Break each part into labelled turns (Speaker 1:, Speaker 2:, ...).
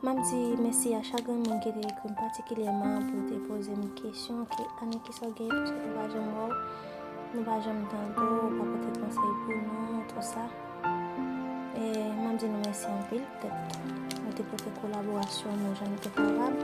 Speaker 1: M ap di mèsi a chak granmoun ki te ekri m patikilyèman pou te poze m kesyon ke Annik kisa w genyen piske nou pa janm wè w, nou pa janm tande w, ou pa pote konsèy pou nou, tou sa. E m ap di nou mèsi anpil poutèt nou te pote kolaborasyon nou jan nou te kapab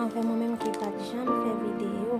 Speaker 1: anvè mwen menm ki pa t janm fè videyo.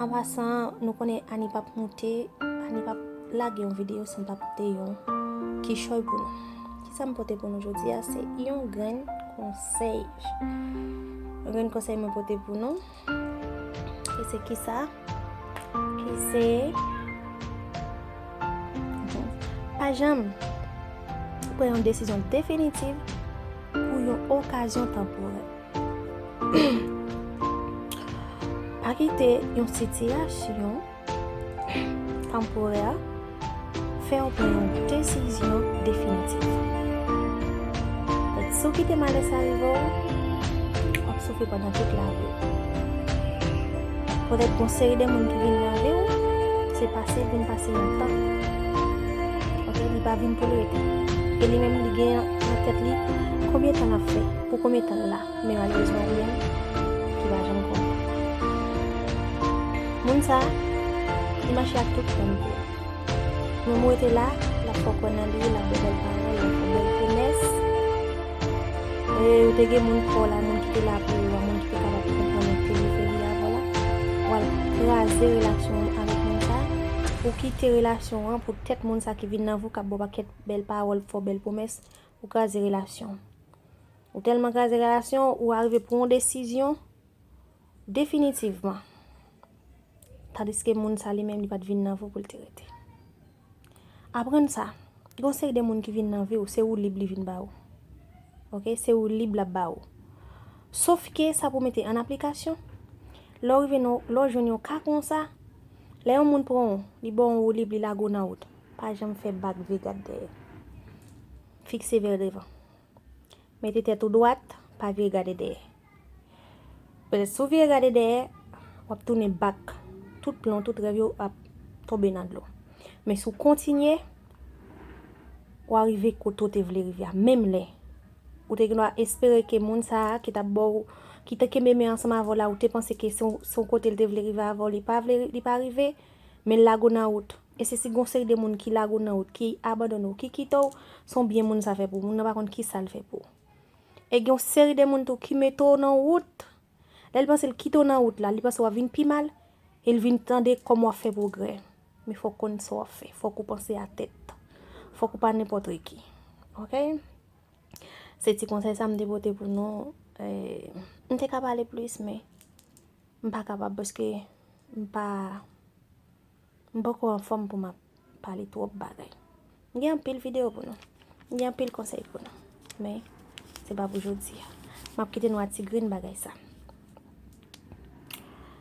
Speaker 1: An pasan, nou konnen Annie pap moute, Annie pap lage yon videyo san pa pote yon kichòy pou nou. Kisa m pote pou nou jodi a, se yon grenn konsèy. Yon grenn konsèy mwen pote pou nou. E se kisa? E se... Pa janm pran yon desizyon definitiv pou yon okazyon tanporè. Pa kite yon sitiyasyon tanporè fè w pran yon desizyon definitif. Si w kite malè sa rive w, w ap soufri pandan tout lavi w. Petèt yon seri de moun ki vin nan vi w, se pase vin pase yon tan. Ok, li pa vin pou l rete. E li menm li gen nan tèt li konbyen tan l ap fè. Pou konbyen tan l la? Men malerezman li menm ki pa janm konnen. Moun sa, li mache ak tout kran li. Moun mwen te la, l ap fè w kwè nan li, l ap fè bèl pawòl, l ap fè bèl pwomès. E ou te gen moun pa w la, moun ki te la pou ou a, moun ki te kapab konprann ou, ki te gen foli avè w la. W al kraze relasyon w avèk moun sa. Ou kite relasyon an pou tèt moun sa ki vin nan vi w, k ap ba w pakèt bèl pawòl, fè w bèl pwomès. ou kraze relasyon. Ou tèlman kraze relasyon ou arive pran yon desizyon definitivman. Tadiske moun sa li menm li pat vin nan vi w pou l te rete. Aprann sa, gen yon seri de moun ki vin nan vi w, se ou lib li vin ba ou. Ok, se ou lib l ap ba ou. Sof ke sa pou mete an aplikasyon, lè w jwenn yon ka konsa, lè yon moun pran w, li ba w ou lib li lage w nan wout. Pa janm fè bak vye gad dèyè. Fikse vè devan. Mete tèt ou dwat, pa vye gade dèyè. Petèt si w vye gade dèyè, w ap tounen bak, tout plan w, tout rèv yo ap tonbe nan dlo. Men si w kontinye, wa rive kote w te vle rive a. Menm lè, ou te gen dwa espere ke moun sa a ki t ap ba w, ki te kenbe men ansanm avè w la, ou te panse ke se yon kote li te vle rive avè w, li pa vle, li pa rive, men l lague w nan wout. E se si gon seri de moun ki lage w nan wout, ki abandone w, ki kite w, se yon byen moun sa fè pou w, moun nan pa konn ki sa l fè pou w. E gen yon seri de moun tou ki mete w nan wout, lè l panse l kite w nan wout la, li panse w ap vin pi mal, e l vin tande kòman w ap fè pwogrè. Men fòk konn sa w ap fè, fòk ou panse a tèt. Fòk ou pa nenpòtreki. Ok? Se ti konsèy sa m te pote pou nou. M te ka pale plis men, m pa kapab paske m pa M poko anfòm pou m ap pale twòp bagay. M gen anpil videyo pou nou. M gen anpil konsèy pou nou. Men, se pa pou jodi a. M ap kite nou a ti grenn bagay sa.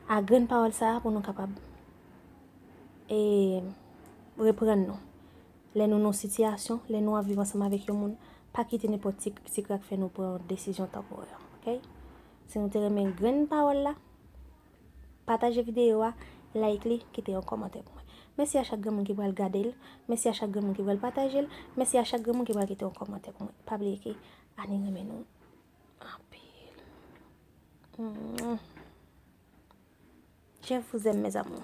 Speaker 1: A grenn pawòl sa pou nou kapab e reprann nou. Lè nou nan sitiyasyon, lè nou ap viv ansanm avèk yon moun, pa kite nenpòt ti krik ti krak fè nou pran desizyon tanporè. Ok? Si nou te renmen grenn pawòl la. Pataje videyo a, like li, kite yon kòmantè pou mwen. Mèsi a chak granmoun ki pral gade l, mèsi a chak granmoun ki pral pataje l, mèsi a chak granmoun ki pral kite yon kòmantè pou mwen. Pa bliye ke Annie renmen nou anpil. Je vous aime mes amours.